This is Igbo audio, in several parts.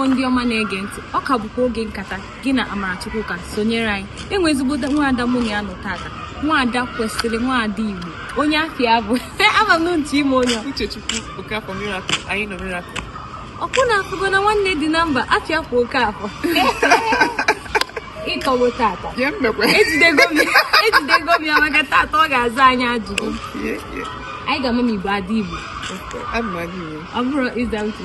Igbo ndị ọma na-ege ntị ọ ka bụkwa oge nkata gị na Amarachukwu ka sonyere anyị enwe ezigbo nwaada mụ na ya nọ tata nwaada kwesịrị nwaada Igbo onye afa ya bụ ama m ntị ime onye Uchechukwu Okafor Miracle anyị nọ Miracle ọ kwa unu afụgo na nwanne dị na mba afa ya kwa Okafor ịkọwo tata ejidego m ya maka tata ọ ga-aza anyị ajụjụ anyị ga-ama ma Igbo ada Igbo ọ bụrụ ịza uche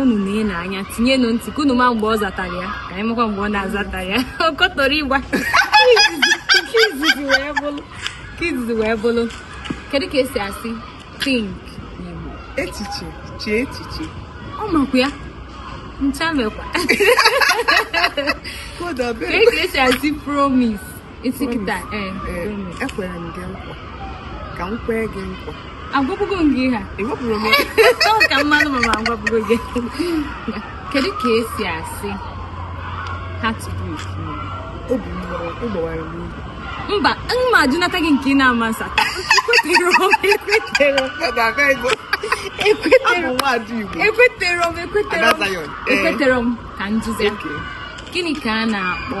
unu na-ene anya tinyenụ ntị ka unu ma mgbe ọ zatara ya ka anyị makwa mgbe ọ na-azatarọ ya okotorigba nke izizi wee bụrụ kedu ka esi asị think n'Igbo echiche chee echiche ọ makwa ya ncha mekwa kedu ka esi asị promise ị sị kịta ee ekwere m gị nkwa ka m kwee gị nkwa agwabugo m gị ha ewepụrụ m ka mmadụ ma ma agwabugo gị kedu ka esi asị heartbreak n'Igbo obi m gbawara m obi mba m ma ajụnata gị nke ị na-ama nsa ekwetere m ekwetere m ka m jụzie gịnị ka a na-akpọ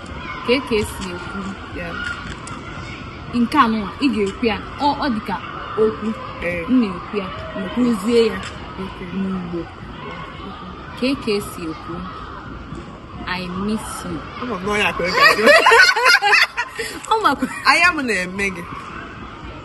kee ka esi ekwu nke a nụwa ị ga-ekwu ya ọ dị ka okwu m na-ekwu ya ekwuzie ya n'Igbo kee ka esi ekwu I miss you. Ọ makwa. Anya m na-eme gị.